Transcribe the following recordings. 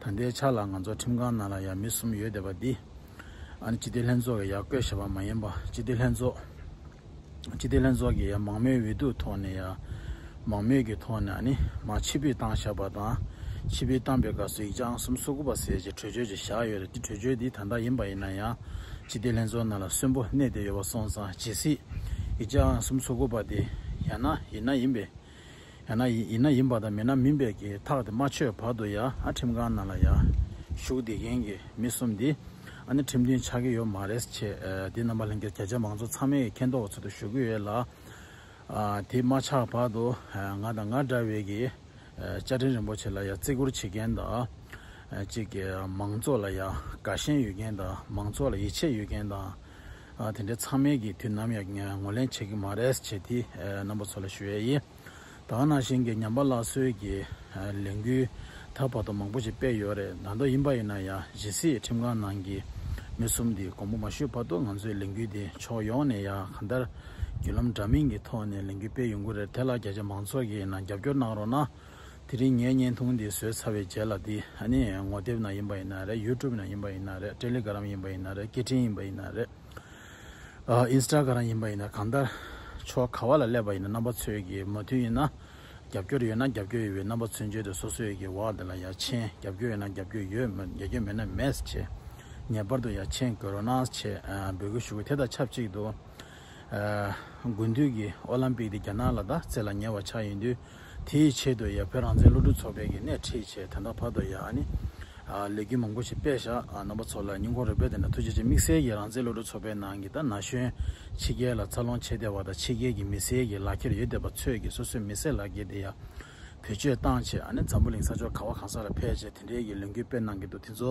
ད་ལྟའི་ཆ་ལ་ང་ཚོ་ཁྲིམས་ཁང་ནང་ལ་ཡང་མི་གསུམ་ཡོད་བསྡད་པ་འདི། ཨ་ནི་སྤྱི་བདེ་ལྷན་ཚོགས་ཀྱི་ཡང་བསྐོས་བྱས་པ་མ་ཡིན་པ་སྤྱི་བདེ་ལྷན་ཚོགས། སྤྱི་བདེ་ལྷན་ཚོགས་ཀྱི་ཡང་མང་མོས་འོས་བསྡུ་ཐོག་ནས་ཡང་མང་མོས་ཀྱི་ཐོག་ནས་ཨ་ནི་མ་ཕྱི་ཕུད་བཏང་བཞག་པ་དང་ཕྱི་ཕུད་བཏང་པའི་སྐབས་སུ་ཡིག་ཆ་ཨང་གསུམ་སོ་དགུ་པ་ཟེར་གྱི་གྲོས་ཆོད་ཅིག་བཞག་ཡོད་རེད་དེ་གྲོས་ཆོད་འདི་ད་ལྟ་ཡིན་པ་ཡིན་ན་ཡང་སྤྱི་བདེ་ལྷན་ཚོགས་ནང་ལ་གསོན་པོ་གནས་བསྡད་ཡོད་པ་སོང་ཙང་ཇི་སྲིད་ཡིག་ཆ་ཨང་གསུམ་སོ་དགུ་པ་དེ་ཡང་ན་ཡིན་ན་ཡིན་པའི་ཡང་ན་ཡིན་ན་ཡིན་པ་དང་མིན་ན་མིན་པའི་གི་ཐག་དེ་མ་ཆོད་བར་དུ་ཡང་ཨ་ཁྲིམས་ཁང་ནང་ལ་ཡང་བཞུགས་བསྡད་མཁན་གི་མི་གསུམ་འདི་ཨ་ནི་ཁྲིམས་མཐུན་ཆགས་ཀྱི་ཡོད་མ་རེད་ཅེས་དེ་རྣམ་པ་ལྷན་རྒྱས་གྱ་གྱ་མང་ཚོགས་ཚང་མའི་མཁྱེན་རྟོགས་ཀྱི་ཚུལ་དུ་ཞུ་གི་ཡོད་ལ། དེ་མ་ཆགས་བར་དུ་ང་དང་ང་འདྲ་བའི་གི་བཅའ་ཁྲིམས་རིན་པོ་ཆེ་ལ་ཡང་བརྩི་བཀུར་བྱེད་མཁན་དང། གཅིག་གི་མང་ཚོགས་ལ་ཡང་དགའ་ཞེན་ཡོད་མཁན་དང་མང་ཚོགས་ལ་ཡིད་ཆེས་ཡོད་མཁན་དང། དེ་འདྲའི་ཚང་མལ་གྱི་དུས་ནམ་ཡང་ངོ་ལེན་བྱེད་ཀྱི་མ་རེད་ཅེས་དེ་རྣམ་པ་ཚོ་ལ་ཞུ་ཡས་ཡིན། ད་ནང་བཞིན་གྱི་ཉམས་པ་སླར་གསོའི་གྱི་ལས་འགུལ་ད་བར་དུ་མང་པོ་ཞིག་སྤེལ་ཡོད་རེད་ད་མདོ་ཡིན་པ་ཡིན་ན་ཡང་གཞིས་སྲིད་ཁྲིམས་ཁང་ནང་གི་མི་གསུམ་དེ་དགོངས་པ་མ་ཞུས་བར་དུ་ང་ཚོའི་ལས་འགུལ་དེ་ཕྱོགས་ཡོངས་ནས་ཡང་གང་ལྟར་བརྒྱུད་ལམ་འདྲ་མིན་གྱི་ཐོག་ནས་ལས་འགུལ་སྤེལ་ཡོང་གི་རེད་དེ་ལ་རྒྱ་ཆེ་མང་ཚོགས་ཀྱིས་ནང་རྒྱབ་སྐྱོར་གནང་རོགས་གནང། དེ་རིང་ངའི་བརྙན་ཐུང་འདི་བཟོས་ཚར་བའི་རྗེས་ལ་འདི་ཨ་ནི་ངོ་དེབ་ནང་ཡིན་པ་ཡིན་ན་རེད་ཡུ་ཀྲུབ་ནང་ཡིན་པ་ཡིན་ན་རེད་ཏྲེ་ལི་གྷ་རམ་ཡིན་པ་ཡིན་ན་རེད་སྐད་འཕྲིན་ཡིན་པ་ཡིན་ན་རེད་ཨིན་སི་ཏྲ་གྷ་རམ་ཡིན་པ་ཡིན་ན་གང་ལྟར་ཆོག་ག་བ་ལ་སླེབས་པ་ཡིན་ན་རྣམ་པ་ཚོས་ཀྱི་མོ་མཐུན་ཡིན་ན་རྒྱབ་སྐྱོར་ཡོད་ན་རྒྱབ་སྐྱོར་ཡོད་པའི་རྣམ་པ་ཚོས་མཇལ་དུ་སོ་སོས་ཀྱི་བར་དེ་ལ་ཡར་མཆན་རྒྱབ་སྐྱོར་ཡོད་ན་རྒྱབ་སྐྱོར་ཡོད་མོད་རྒྱབ་སྐྱོར་མེད་ན་མེད་ཅེས་ངེས་པར་དུ་ཡར་མཆན་དགོས་རོགས་གནང་ཅེས་འབོད་སྐུལ་ཞུ་དགོས་དེ་དང་ཆབས་ཅིག་ཏུ་དགུན་དུས་ཀྱི་ཨོ་ལམ་པིག་འདི་རྒྱ་ནག་ལ་ད་བརྩེ་ལ་ཉེ་བ་ཆགས་ཡིན་དུས། དེའི་ཆེད་དུ་ཡང་བོད་རང་བཙན་སློབ་ཕྲུག་ཚོགས་པས་ཀྱི་སྣེ་ཁྲིད་བྱས་དོན་དག་ཕར་དུ་ཡང་ནི། ལས་འགུལ་མང་པོ་ཞིག་སྤེལ་བཞག་རྣམ་པ་ཚོ་ལ་སྙིང་ཁོང་རེ་སྤེལ་དེ་འདྲ་ཐུགས་རྗེ་ཆེ་དམིགས་བསལ་གྱི་རང་བཙན་སློབ་ཕྲུག་ཚོགས་པའི་ནང་གི་ད་ན་གཞོན་ཕྱི་རྒྱལ་ལ་འཚར་ལོངས་བྱེད་བདེ་བ་དང་ཕྱི་རྒྱལ་གྱི་མི་སེར་གྱི་ལག་ཁྱེར་ཡོད་བདེ་བ་ཚོས་ཀྱི་སོ་སོའི་མི་སེར་ལག་ཁྱེར་དེ་ཡང་བེད་སྤྱོད་བཏང་བྱས་ནི་འཛམ་བུ་གླིང་ས་ཕྱོགས་ག་བ་གང་ས་ལ་ཕེལ་བྱས་དེ་འདྲའི་གྱི་ལས་འགུལ་སྤེལ་གནང་གི་འདུག་དེ་ཚོ་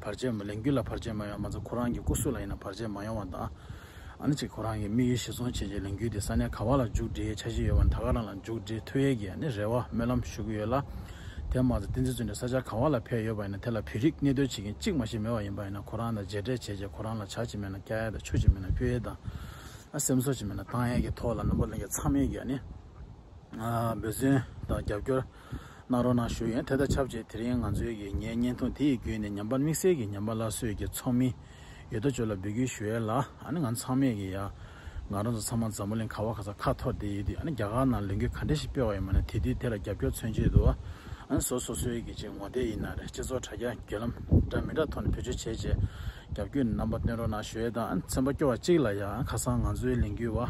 བར་ཆད་མ་ལེན་རྒྱུ་ལ་བར་ཆད་མ་ཡོང་མ་ཚད་ཁོ་རང་གི་སྐུ་སྲོག་ལ་ཡིན་ན་བར་ཆད་མ་ཡོང་བ་དང། ཨ་ནི་ཅིག་ཁོ་རང་གི་དམིགས་ཡུལ་ཞིག་སྲུང་བྱེད་ཀྱི་ལས་འགུལ་དེ་ས་གནས་ག་བ་ལ་མཇུག་སྒྲིལ་འཆར་གཞི་ཡོད་པ་ནི་ད་ག་རང་ལ་མཇུག་སྒྲིལ་ཐུབ་ཡས་ཀྱི་ཨ་ནི་རེ་བ་སྨོན་ལམ་ཞུ་གི་ཡོད་ལ། དེ་མ་ཚད་ཏིང་འཛིན་བཙུན་དེ་ས་ཆ་ག་བ་ལ་ཕེབས་ཡོད་པ་ཡིན་ན་དེ་ལ་བོད་རིགས་གནས་སྡོད་བྱེད་མཁན་གཅིག་མ་ཞིག་མེད་པ་ཡིན་པ་ཡིན་ན་ཁོ་རང་དང་མཇལ་འཕྲད་བྱེད་ཀྱི་ཁོ་རང་ལ་བྱ་གཅིག་མེད་ན་སྐྱ་ཡས་དང་ཆུ་གཅིག་མེད་ན་སྐྱོ་ཡས་དང། ཨ་སེམས་གསོ་གཅིག་མེད་ན་བཏང་ཡས་ཀྱི་ཐོག་ལ་རྣམ་པ་གླེང་རྒྱ་མཚམས་མེད་ཀྱི་ཨ་ནི། འབོད་བརྩོན་དང་རྒྱབ་སྐྱོར། གནང་རོགས་གནང་ཞུ་ཡོན་དེ་དང་ཆབས་ཅིག་དེ་རིང་ང་ཚོའི་གི་ངའི་བརྙན་ཐུང་དེ་ཡི་བརྒྱུད་ནས་ཉམས་པ་དམིགས་བསལ་གི་ཉམས་པ་སླར་གསོས་གི་ཚོགས་མི་ཡོད་དོ་ཅོག་ལ་འབུལ་བརྒྱུད་ཞུ་ཡས་ལ་ཨ་ནི་ང་ཚང་མས་གི་ཡ་ང་རང་ཚོ་ཚང་མ་འཛམ་བུ་གླིང་ག་བ་ག་ས་ཁ་ཐོར་དེ་ཡོད་དུས་ཨ་ནི་རྒྱ་གར་ནང་ལས་འགུལ་ག་འདྲ་ཞིག་སྤེལ་བ་ཡིན་མ་ནི་དེ་དུས་དེ་ལ་རྒྱབ་སྐྱོར་མཚོན་ཆེད་དུ་ཨ་ནི་ཟོ་སོ་སོའི་གི་ཅིག་ངོ་དེ་ཡི་ན་རེ་སྤྱི་ཚོགས་དྲ་རྒྱ་བརྒྱུད་ལམ་འདྲ་མི་འདྲ་ཐོག་ནས་བེད་སྤྱོད་བྱས་རྗེས་རྒྱབ་སྐྱོད་རྣམ་པ་སྟོན་རོགས་གནང་ཞུ་ཡས་དང་ཨ་ནི་ཚན་པ་སྐྱོ་བ་གཅིག་ལ་ཡ་ཁ་སང་ང་ཚོའི་ལས་འགུལ་བ་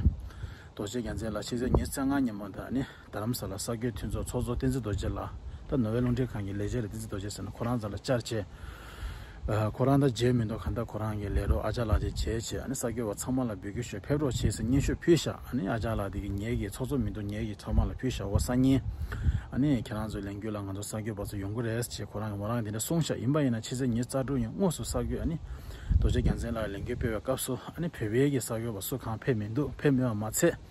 རྡོ་རྗེ་རྒྱལ་མཚན་ལགས་ཕྱི་ཚེས་ཉེར་བརྩེགས་སྔ་ཉིན་མོ་དང་ཨ་ནི། རྡ་རམ་ས་ལ་ས་སྐྱོད་མཐུན་ཚོགས་ཚོགས་གཙོ་བསྟན་འཛིན་རྡོ་རྗེ་ལགས་ད་ནོ་བྷེལ་རླུང་འཕྲིན་ཁང་གི་ལས་བྱེད་རེད་བསྟན་འཛིན་རྡོ་རྗེ་ཟེར་ན་ཁོ་རང་ཚ་ལ་བཅར་བྱས། ཁོ་རང་ད་མཇལ་མི་འདུག་གང་ལྟར་ཁོ་རང་གི་ལས་རོགས་ཨ་ཅག་ལགས་དེ་མཇལ་བྱས་ཨ་ནི་ས་སྐྱོད་བ་ཚང་མ་ལ་འབུལ་སྐྱོད་ཞོར་ཕེབས་རོགས་བྱས་ཟེར་སྙན་ཤོས་ཕུལ་བཞག་ཨ་ནི་ཨ་ཅག་ལགས་དེ་གིས་ངེད་ཀྱི་ཚོགས་གཙོ་མི་འདུག་ངེད་ཀྱི་ཚོགས་མང་ལ་ཕུལ་བཞག་འོ་ས་ཉིན་ཨ་ནི་ཁྱེད་རང་ཚོའི་ལས་འགུལ་ལ་ང་ཚོ་ས་སྐྱོད་བ་ཚོ་ཡོང་གི་རེད་ཅེས་ཁོ་རང་གིས་མོ་རང་གིས་དེ་འདྲ་གསུང་བཞག་ཡིན་པ་ཡིན་ན་ཕྱི་ཚེས་ཉེར་རྩ་དྲུག་ཉིན་དངོས་སུ་ས་སྐྱོད་ཨ་ནི་རྡོ་རྗེ་རྒྱལ་མཚན་ལགས་ལས་འགུལ་སྤེལ་བའི་སྐབས་སུ་ཨ་ནི་བོད་པའི་གིས་ས་སྐྱོད་བ་སུ་གང་ཕེབས་མི་འདུག་ཕེབས་མེད་པ་མ་ཚད།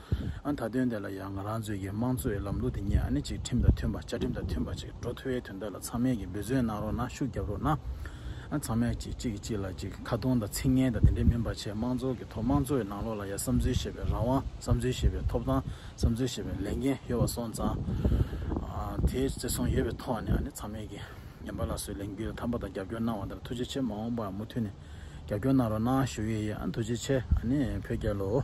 ཨ་ད་དོན་དེ་ལ་ཡང་ང་རང་ཚོའི་ཀྱི་དམངས་གཙོ་ཡི་ལམ་ལུགས་དེ་ཉིད་ཨ་ནི་ཅིག་ཁྲིམས་དང་མཐུན་པ་བཅའ་ཁྲིམས་དང་མཐུན་པ་ཅིག་འགྲོ་ཐུ་བའི་དོན་དག་ལ་ཚང་མས་ཀྱི་འབོད་བརྩོན་གནང་རོགས་གནང་ཤུགས་རྒྱབ་རོགས་གནང། ཨ་ཚང་མས་ཅིག་གཅིག་གིས་གཅིག་ལ་ཅིག་ཁ་རྡུང་དང་ཚིག་ངན་དང་དེ་འདྲས་མིན་པ་ཆེད་དམངས་གཙོ་གི་ཐོག་དམངས་གཙོ་ཡི་ནང་ལོགས་ལ་ཡང་བསམ་ཚུལ་བཤད་པའི་རང་དབང་བསམ་ཚུལ་བཤད་པའི་ཐོབ་ཐང་བསམ་ཚུལ་བཤད་པའི་ལས་འགན་ཡོད་པ་སོང་ཙང་དེའི་བརྩེ་སྲུང་ཡོད་པའི་ཐོག་ནས་ཨ་ནི་ཚང་མས་ཀྱི་ཉན་པ་ལ་སོའི་ལས་འགུལ་ལ་དམ་པ་དང་རྒྱབ་སྐྱོར་གནང་བ་དང་ཐུགས་རྗེ་ཆེ་མ་འོངས་པའང་མུ་མཐུད་ནས་རྒྱབ་སྐྱོར་གནང་རོགས་གནང་ཞུ་ཡི་ཡིན་ཨ་ཐུགས་རྗེ་ཆེ་ཨ་ནི་བོད་རྒྱལ་ལོ།